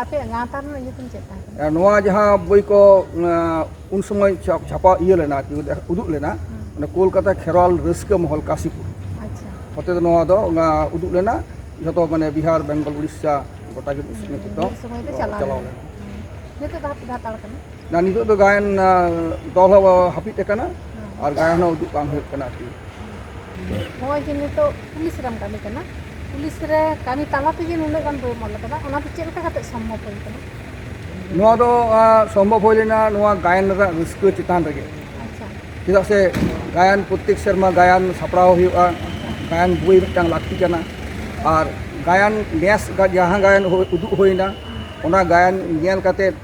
ᱟᱯᱮᱭᱟᱜ ᱜᱟᱶᱛᱟ ᱨᱮᱱᱟᱜ ᱧᱩᱛᱩᱢ ᱪᱮᱫ ᱛᱟᱦᱮᱸ ᱠᱟᱱᱟ ᱱᱚᱣᱟ ᱡᱟᱦᱟᱸ ᱵᱳᱭ ᱠᱚ ᱩᱱ ᱥᱚᱢᱚᱭ ᱪᱷᱟᱯᱟ ᱤᱭᱟᱹ ᱞᱮᱱᱟ ᱩᱫᱩᱜ ᱞᱮᱱᱟ ᱚᱱᱟ ᱠᱳᱞᱠᱟᱛᱟ ᱠᱷᱮᱨᱣᱟᱞ ᱨᱟᱹᱥᱠᱟᱹ ᱢᱚᱦᱚᱞ ᱠᱟᱥᱤᱯᱩᱨ ᱟᱪᱪᱷᱟ ᱦᱚᱛᱮ ᱫᱚ ᱱᱚᱣᱟ ᱫᱚ ᱚᱱᱟ ᱩᱫᱩᱜ ᱞᱮᱱᱟ ᱡᱚᱛᱚ ᱢᱟᱱᱮ ᱵᱤᱦᱟᱨ ᱵᱮᱝᱜᱚᱞ ᱩᱲᱤᱥᱥᱟ ᱜᱚᱴᱟ ᱜᱮ ᱢᱤᱫ ᱥᱚᱢᱚᱭ ᱛᱮ ᱪᱟᱞᱟᱣ ᱞᱮᱱᱟ ᱱᱤᱛᱚᱜ ᱫᱚ ᱦᱟᱛᱟᱲ ᱠᱟᱱᱟ ᱱᱟ ᱱᱤᱛᱚᱜ ᱫᱚ ᱜᱟᱭᱟᱱ ᱫᱚᱞ ᱦᱚᱸ ᱦᱟᱹᱯᱤᱫ ᱟᱠᱟᱱᱟ ᱟᱨ ᱜᱟᱭᱟᱱ ᱦᱚᱸ ᱩᱫᱩᱜ ᱵᱟᱝ ᱦᱩᱭᱩᱜ ᱠᱟᱱᱟ ᱟᱨᱠᱤ ᱱᱚᱜᱼᱚᱭ ᱡᱮ ᱱᱤᱛᱚᱜ ᱯᱩᱞᱤᱥ ᱨᱮᱢ ᱠᱟᱹᱢᱤ ᱠᱟᱱᱟ ᱯᱩᱞᱤᱥ ᱨᱮ ᱠᱟᱹᱢᱤ ᱛᱟᱞᱟ ᱛᱮᱜᱮ ᱱᱩᱱᱟᱹᱜ ᱜᱟᱱ ᱵᱳᱭᱮᱢ ᱚᱞ ᱟᱠᱟᱫᱟ ᱚᱱᱟ ᱫᱚ ᱪᱮᱫ ᱞᱮᱠᱟ ᱠᱟᱛᱮ ᱥᱚᱢᱵᱷᱚᱵ ᱦᱩᱭ ᱟᱠᱟᱱᱟ ᱱᱚᱣᱟ ᱫᱚ ᱥᱚᱢᱵᱷᱚᱵ ᱦᱩᱭ ᱞᱮᱱᱟ ᱱᱚᱣᱟ ᱜᱟᱭᱟᱱ ᱨᱮᱱᱟᱜ ᱨᱟᱹᱥᱠᱟᱹ ᱪᱮᱛᱟᱱ ᱨᱮᱜᱮ ᱪᱮᱫᱟᱜ ᱥᱮ ᱜᱟᱭᱟᱱ ᱯᱨᱚᱛᱮᱠ ᱥᱮᱨᱢᱟ ᱜᱟᱭᱟᱱ ᱥᱟᱯᱲᱟᱣ ᱦᱩᱭᱩᱜᱼᱟ ᱜᱟᱭᱟᱱ ᱵᱳᱭ ᱢᱤᱫᱴᱟᱝ ᱞᱟᱹᱠᱛᱤ ᱠᱟᱱᱟ ᱟᱨ ᱜᱟᱭᱟᱱ ᱱᱮᱥ ᱡᱟᱦᱟᱸ ᱜᱟᱭᱟᱱ ᱩᱫᱩᱜ ᱦᱩᱭᱮᱱᱟ ᱚᱱᱟ ᱜᱟᱭᱟᱱ ᱧᱮᱞ ᱠᱟᱛᱮ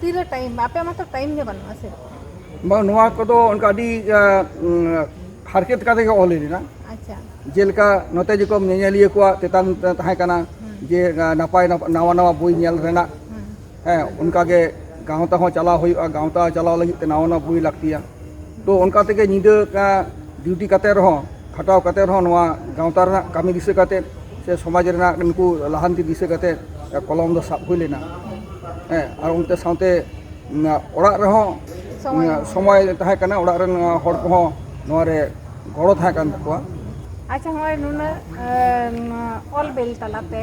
ᱛᱤᱨᱮ ᱴᱟᱭᱤᱢ ᱟᱯᱮ ᱢᱟᱛᱚ ᱴᱟᱭᱤᱢ ᱜᱮ ᱵᱟᱹᱱᱩᱜᱼᱟ ᱥᱮ ᱵᱟᱝ ᱱᱚᱣᱟ ᱠᱚᱫᱚ ᱚᱱᱠᱟ ᱟᱹᱰᱤ ᱦᱟᱨᱠᱮᱛ ᱠᱟᱛᱮ ᱜᱮ ᱚᱞ ᱞᱮᱱᱟ ᱟᱪᱪᱷᱟ ᱡᱮᱞᱮᱠᱟ ᱱᱚᱛᱮ ᱡᱚᱠᱷᱚᱱ ᱧᱮᱧᱮᱞᱤᱭᱟᱹ ᱠᱚᱣᱟᱜ ᱛᱮᱛᱟᱝ ᱛᱟᱦᱮᱸ ᱠᱟᱱᱟ ᱡᱮ ᱱᱟᱯᱟᱭ ᱱᱟᱣᱟ ᱱᱟᱣᱟ ᱵᱳᱭ ᱧᱮᱞ ᱨᱮᱱᱟᱜ ᱦᱮᱸ ᱚᱱᱠᱟᱜᱮ ᱜᱟᱶᱛᱟ ᱦᱚᱸ ᱪᱟᱞᱟᱣ ᱦᱩᱭᱩᱜᱼᱟ ᱜᱟᱶᱛᱟ ᱪᱟᱞᱟᱣ ᱞᱟᱹᱜᱤᱫ ᱛᱮ ᱱᱟᱣᱟ ᱱᱟᱣᱟ ᱵᱳᱭ ᱞᱟᱹᱠᱛᱤᱭᱟ ᱛᱚ ᱚᱱᱠᱟ ᱛᱮᱜᱮ ᱧᱤᱫᱟᱹ ᱰᱤᱭᱩᱴᱤ ᱠᱟᱛᱮ ᱨᱮᱦᱚᱸ ᱠᱷᱟᱴᱟᱣ ᱠᱟᱛᱮ ᱨᱮᱦᱚᱸ ᱱᱚᱣᱟ ᱜᱟᱶᱛᱟ ᱨᱮᱱᱟᱜ ᱠᱟᱹᱢᱤ ᱫᱤᱥᱟᱹ ᱠᱟᱛᱮ ᱥᱮ ᱥᱚᱢᱟᱡᱽ ᱨᱮᱱᱟᱜ ᱱᱩᱠᱩ ᱞᱟᱦᱟᱱᱛᱤ ᱫᱤᱥᱟᱹ ᱠᱟᱛᱮ ᱠᱚᱞᱚᱢ ᱫᱚ ᱥᱟᱵ ᱦᱩᱭ ᱞᱮᱱᱟ ᱦᱮᱸ ᱟᱨ ᱚᱱᱛᱮ ᱥᱟᱶᱛᱮ ᱚᱲᱟᱜ ᱨᱮᱦᱚᱸ ᱥᱚᱢᱚᱭ ᱛᱟᱦᱮᱸ ᱠᱟᱱᱟ ᱚᱲᱟᱜ ᱨᱮᱱ ᱦᱚᱲ ᱠᱚᱦᱚᱸ ᱱᱚᱣᱟ ᱨᱮ ᱜᱚᱲᱚ ᱛᱟᱦᱮᱸ ᱠᱟᱱ ᱛᱟᱠᱚᱣᱟ ᱟᱪᱪᱷᱟ ᱦᱚᱸᱜᱼᱚᱭ ᱱᱩᱱᱟᱹᱜ ᱚᱞ ᱵᱤᱞ ᱛᱟᱞᱟᱛᱮ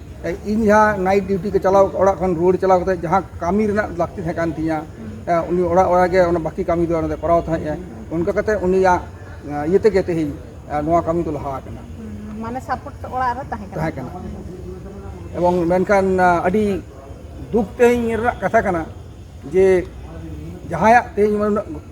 ᱤᱧ ᱡᱟᱦᱟᱸ ᱱᱟᱭᱤᱴ ᱰᱤᱭᱩᱴᱤ ᱠᱚ ᱪᱟᱞᱟᱣ ᱚᱲᱟᱜ ᱠᱷᱚᱱ ᱨᱩᱣᱟᱹᱲ ᱪᱟᱞᱟᱣ ᱠᱟᱛᱮ ᱡᱟᱦᱟᱸ ᱠᱟᱹᱢᱤ ᱨᱮᱱᱟᱜ ᱞᱟᱹᱠᱛᱤ ᱛᱟᱦᱮᱸ ᱠᱟᱱ ᱛᱤᱧᱟᱹ ᱩᱱᱤ ᱚᱲᱟᱜ ᱚᱲᱟᱜ ᱜᱮ ᱚᱱᱟ ᱵᱟᱹᱠᱤ ᱠᱟᱹᱢᱤ ᱫᱚ ᱚᱱᱟᱫᱚ ᱠᱚᱨᱟᱣ ᱛᱟᱦᱮᱸᱫᱼᱮ ᱚᱱᱠᱟ ᱠᱟᱛᱮ ᱩᱱᱤᱭᱟᱜ ᱤᱭᱟᱹ ᱛᱮᱜᱮ ᱛᱮᱦᱮᱧ ᱱᱚᱣᱟ ᱠᱟᱹᱢᱤ ᱫᱚ ᱞᱟᱦᱟ ᱟᱠᱟᱱᱟ ᱢᱟᱱᱮ ᱥᱟᱯᱳᱨᱴ ᱚᱲᱟᱜ ᱨᱮ ᱛᱟᱦᱮᱸ ᱠᱟᱱᱟ ᱛᱟᱦᱮᱸ ᱠᱟᱱᱟ ᱮᱵᱚᱝ ᱢᱮᱱᱠᱷᱟᱱ ᱟᱹᱰᱤ ᱫᱩᱠ ᱛᱮᱦᱮᱧ ᱨᱮᱱᱟᱜ ᱠᱟᱛᱷᱟ ᱠᱟᱱᱟ ᱡᱮ ᱡᱟᱦᱟᱸᱭᱟᱜ ᱛᱮᱦᱮᱧ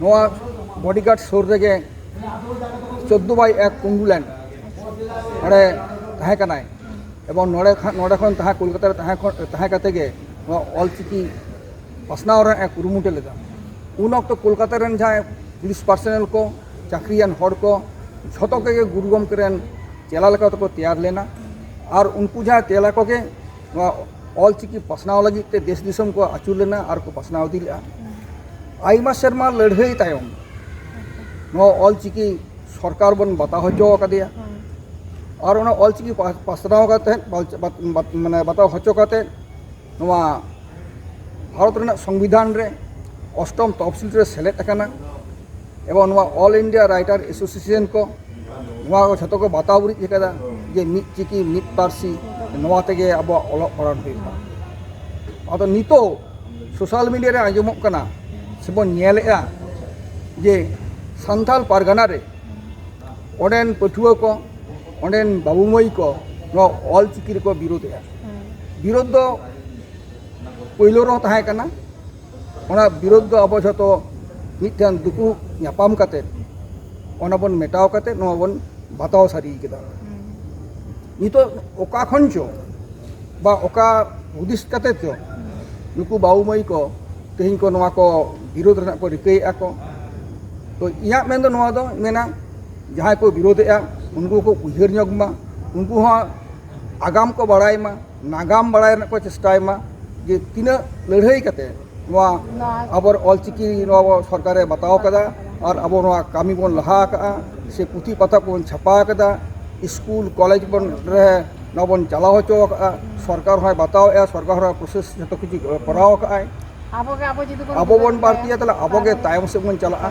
ᱱᱚᱣᱟ ᱵᱚᱰᱤᱜᱟᱨᱰ ᱥᱩᱨ ᱨᱮᱜᱮ ᱪᱳᱫᱫᱳ ᱵᱟᱭ ᱮᱠ ᱠᱩᱝᱜᱩᱞᱮᱱ ᱚᱸᱰᱮ ᱛᱟᱦᱮᱸ ᱠᱟᱱᱟᱭ ᱮᱵᱚᱝ ᱱᱚᱰᱮ ᱠᱷᱚᱱ ᱱᱚᱰᱮ ᱠᱷᱚᱱ ᱛᱟᱦᱮᱸ ᱠᱳᱞᱠᱟᱛᱟ ᱨᱮ ᱛᱟᱦᱮᱸ ᱠᱷᱚᱱ ᱛᱟᱦᱮᱸ ᱠᱟᱛᱮ ᱜᱮ ᱱᱚᱣᱟ ᱚᱞ ᱪᱤᱠᱤ ᱯᱟᱥᱱᱟᱣ ᱨᱮᱱᱟᱜ ᱮ ᱠᱩᱨᱩᱢᱩᱴᱩ ᱞᱮᱫᱟ ᱩᱱ ᱚᱠᱛᱚ ᱠᱳᱞᱠᱟᱛᱟ ᱨᱮᱱ ᱡᱟᱦᱟᱸᱭ ᱯᱩᱞᱤᱥ ᱯᱟᱨᱥᱚᱱᱮᱞ ᱠᱚ ᱪᱟᱹᱠᱨᱤᱭᱟᱱ ᱦᱚᱲ ᱠᱚ ᱡᱷᱚᱛᱚ ᱠᱚᱜᱮ ᱜᱩᱨᱩ ᱜᱚᱢᱠᱮ ᱨᱮᱱ ᱪᱮᱞᱟ ᱞᱮᱠᱟ ᱛᱮᱠᱚ ᱛᱮᱭᱟᱨ ᱞᱮᱱᱟ ᱟᱨ ᱩᱱᱠᱩ ᱡᱟᱦᱟᱸ ᱪᱮᱞᱟ ᱠᱚᱜᱮ ᱱᱚᱣᱟ ᱚᱞ ᱪᱤᱠᱤ ᱯᱟᱥᱱᱟᱣ ᱞᱟᱹᱜᱤᱫ ᱛᱮ ᱫᱮᱥ ᱫᱤᱥᱚᱢ ᱠᱚ ᱟᱹᱪᱩᱨ ᱞᱮᱱᱟ ᱟᱨ ᱠᱚ ᱯᱟᱥᱱᱟᱣ ᱤᱫᱤ ᱞᱮᱫᱼᱟ ᱟᱭᱢᱟ ᱥᱮᱨᱢᱟ ᱞᱟᱹᱲᱦᱟᱹᱭ ᱛᱟᱭᱚᱢ ᱱᱚᱣᱟ ᱚᱞ ᱪᱤᱠᱤ ᱥᱚᱨᱠᱟᱨ ᱵᱚᱱ ᱵᱟᱛᱟᱣ ᱦᱚᱪᱚ ᱟᱠᱟᱫᱮᱭᱟ ᱟᱨ ᱚᱱᱟ ᱚᱞ ᱪᱤᱠᱤ ᱯᱟᱥᱱᱟᱣ ᱠᱟᱛᱮ ᱢᱟᱱᱮ ᱵᱟᱛᱟᱣ ᱦᱚᱪᱚ ᱠᱟᱛᱮ ᱱᱚᱣᱟ ᱵᱷᱟᱨᱚᱛ ᱨᱮᱱᱟᱜ ᱥᱚᱝᱵᱤᱫᱷᱟᱱ ᱨᱮ ᱚᱥᱴᱚᱢ ᱛᱚᱯᱥᱤᱞ ᱨᱮ ᱥᱮᱞᱮᱫ ᱟᱠᱟᱱᱟ ᱮᱵᱚᱝ ᱱᱚᱣᱟ ᱚᱞ ᱤᱱᱰᱤᱭᱟ ᱨᱟᱭᱴᱟᱨ ᱮᱥᱳᱥᱤᱭᱮᱥᱚᱱ ᱠᱚ ᱱᱚᱣᱟ ᱠᱚ ᱡᱷᱚᱛᱚ ᱠᱚ ᱵᱟᱛᱟᱣ ᱵᱩᱨᱤᱡ ᱟᱠᱟᱫᱟ ᱡᱮ ᱢᱤᱫ ᱪᱤᱠᱤ ᱢᱤᱫ ᱯᱟᱹᱨᱥᱤ ᱱᱚᱣᱟ ᱛᱮᱜᱮ ᱟᱵᱚᱣᱟᱜ ᱚᱞᱚᱜ ᱯᱟᱲᱦᱟᱣ ᱦᱩᱭᱩᱜᱼᱟ ᱟᱫᱚ ᱱᱤᱛᱚᱜ ᱥᱳᱥᱟᱞ ᱢᱤᱰᱤᱭᱟ ᱨᱮ ᱟᱸᱡᱚᱢᱚᱜ ᱠᱟᱱᱟ ᱥᱮᱵᱚᱱ ᱧᱮᱞᱮᱜᱼᱟ ᱡᱮ ᱥᱟᱱᱛᱟᱲ ᱯᱟᱨᱜᱟᱱᱟ ᱨᱮ ᱚᱸᱰᱮᱱ ᱯᱟᱹᱴᱷᱩᱣᱟᱹ ᱠᱚ ᱚᱸᱰᱮᱱ ᱵᱟᱹᱵᱩ ᱢᱟᱹᱭ ᱠᱚ ᱱᱚᱣᱟ ᱚᱞ ᱪᱤᱠᱤ ᱨᱮᱠᱚ ᱵᱤᱨᱳᱫᱮᱜᱼᱟ ᱵᱤᱨᱳᱫ ᱫᱚ ᱯᱳᱭᱞᱳ ᱨᱮᱦᱚᱸ ᱛᱟᱦᱮᱸ ᱠᱟᱱᱟ ᱚᱱᱟ ᱵᱤᱨᱳᱫ ᱫᱚ ᱟᱵᱚ ᱡᱷᱚᱛᱚ ᱢᱤᱫᱴᱟᱝ ᱫᱩᱯᱩ ᱧᱟᱯᱟᱢ ᱠᱟᱛᱮ ᱚᱱᱟ ᱵᱚᱱ ᱢᱮᱴᱟᱣ ᱠᱟᱛᱮ ᱱᱚᱣᱟ ᱵᱚᱱ ᱵᱟᱛᱟᱣ ᱥᱟᱹᱨᱤ ᱠᱮᱫᱟ ᱱᱤᱛᱚᱜ ᱚᱠᱟ ᱠᱷᱚᱱ ᱪᱚ ᱵᱟ ᱚᱠᱟ ᱦᱩᱫᱤᱥ ᱠᱟᱛᱮ ᱪᱚ ᱱᱩᱠᱩ ᱵᱟᱹᱵᱩ ᱢᱟᱹᱭ ᱠᱚ ᱛᱮᱦᱮᱧ ᱠᱚ ᱱᱚᱣᱟ ᱠᱚ ᱵᱤᱨᱳᱫ ᱨᱮᱱᱟᱜ ᱠᱚ ᱨᱤᱠᱟᱹᱭᱮᱫᱼᱟ ᱠᱚ ᱛᱚ ᱤᱧᱟᱹᱜ ᱢᱮᱱ ᱫᱚ ᱱᱚᱣᱟ ᱫᱚ ᱢᱮᱱᱟ ᱡᱟᱦᱟᱸᱭ ᱠᱚ ᱵᱤᱨᱳᱫᱮᱜᱼᱟ ᱩᱱᱠᱩ ᱠᱚ ᱩᱭᱦᱟᱹᱨ ᱧᱚᱜᱽ ᱢᱟ ᱩᱱᱠᱩ ᱦᱚᱸ ᱟᱜᱟᱢ ᱠᱚ ᱵᱟᱲᱟᱭ ᱢᱟ ᱱᱟᱜᱟᱢ ᱵᱟᱲᱟᱭ ᱨᱮᱱᱟᱜ ᱠᱚ ᱪᱮᱥᱴᱟᱭ ᱢᱟ ᱡᱮ ᱛᱤᱱᱟᱹᱜ ᱞᱟᱹᱲᱦᱟᱹᱭ ᱠᱟᱛᱮ ᱱᱚᱣᱟ ᱟᱵᱚ ᱚᱞᱪᱤᱠᱤ ᱱᱚᱣᱟ ᱥᱚᱨᱠᱟᱨᱮ ᱵᱟᱛᱟᱣ ᱠᱟᱫᱟ ᱟᱨ ᱟᱵᱚ ᱱᱚᱣᱟ ᱠᱟᱹᱢᱤ ᱵᱚᱱ ᱞᱟᱦᱟ ᱟᱠᱟᱫᱼᱟ ᱥᱮ ᱯᱩᱛᱷᱤ ᱯᱟᱛᱷᱟᱢ ᱠᱚᱵᱚᱱ ᱪᱷᱟᱯᱟ ᱠᱟᱫᱟ ᱥᱠᱩᱞ ᱠᱚᱞᱮᱡᱽ ᱵᱚᱱ ᱨᱮ ᱱᱚᱣᱟ ᱵᱚᱱ ᱪᱟᱞᱟᱣ ᱦᱚᱪᱚ ᱟᱠᱟᱫᱼᱟ ᱥᱚᱨᱠᱟᱨ ᱦᱚᱸᱭ ᱵᱟᱛᱟᱣᱮᱫᱼᱟ ᱥᱚᱨᱠᱟᱨ ᱦᱚᱸ ᱯᱨᱚᱥᱮᱥ ᱡᱚᱛᱚ ᱠᱤᱪᱷᱩ ᱠᱚᱨᱟᱣ ᱟᱠᱟᱫᱼᱟᱭ ᱟᱵᱚ ᱵᱚᱱ ᱵᱟᱹᱲᱛᱤᱭᱟ ᱛᱟᱦᱚᱞᱮ ᱟᱵᱚᱜᱮ ᱛᱟᱭᱚᱢ ᱥᱮᱫ ᱵᱚᱱ ᱪᱟᱞᱟᱜᱼᱟ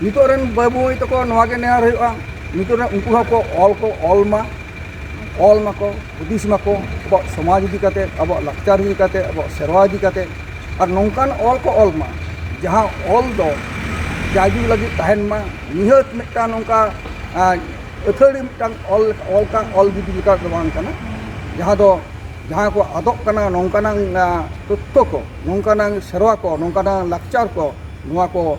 ᱱᱤᱛᱚᱜ ᱨᱮᱱ ᱵᱟᱹᱵᱩ ᱢᱟᱹᱭ ᱛᱟᱠᱚ ᱱᱚᱣᱟ ᱜᱮ ᱱᱮᱦᱚᱨ ᱦᱩᱭᱩᱜᱼᱟ ᱱᱤᱛᱚᱜ ᱨᱮ ᱩᱱᱠᱩ ᱦᱚᱸᱠᱚ ᱚᱞ ᱠᱚ ᱚᱞ ᱢᱟ ᱚᱞ ᱢᱟᱠᱚ ᱦᱩᱫᱤᱥ ᱢᱟᱠᱚ ᱟᱵᱚᱣᱟᱜ ᱥᱚᱢᱟᱡᱽ ᱤᱫᱤ ᱠᱟᱛᱮ ᱟᱵᱚᱣᱟᱜ ᱞᱟᱠᱪᱟᱨ ᱤᱫᱤ ᱠᱟᱛᱮ ᱟᱵᱚᱣᱟᱜ ᱥᱮᱨᱣᱟ ᱤᱫᱤ ᱠᱟᱛᱮ ᱟᱨ ᱱᱚᱝᱠᱟᱱ ᱚᱞ ᱠᱚ ᱚᱞ ᱢᱟ ᱡᱟᱦᱟᱸ ᱚᱞ ᱫᱚ ᱡᱟᱭᱡᱩᱜᱽ ᱞᱟᱹᱜᱤᱫ ᱛᱟᱦᱮᱱ ᱢᱟ ᱱᱤᱦᱟᱹᱛ ᱢᱤᱫᱴᱟᱝ ᱱᱚᱝᱠᱟ ᱟᱹᱛᱷᱟᱹᱲᱤ ᱢᱤᱫᱴᱟᱝ ᱚᱞ ᱚᱞ ᱠᱟᱜ ᱚᱞ ᱜᱤᱰᱤ ᱞᱮᱠᱟ ᱫᱚ ᱵᱟᱝ ᱠᱟᱱᱟ ᱡᱟᱦᱟᱸ ᱫᱚ ᱡᱟᱦᱟᱸ ᱠᱚ ᱟᱫᱚᱜ ᱠᱟᱱᱟ ᱱᱚᱝᱠᱟᱱᱟᱝ ᱛᱚᱛᱛᱷᱚ ᱠᱚ ᱱᱚᱝᱠᱟᱱᱟᱝ ᱥᱮᱨᱣᱟ ᱠᱚ ᱱᱚᱝᱠᱟᱱᱟᱝ ᱞᱟᱠᱪᱟᱨ ᱠᱚ ᱱᱚᱣᱟ ᱠᱚ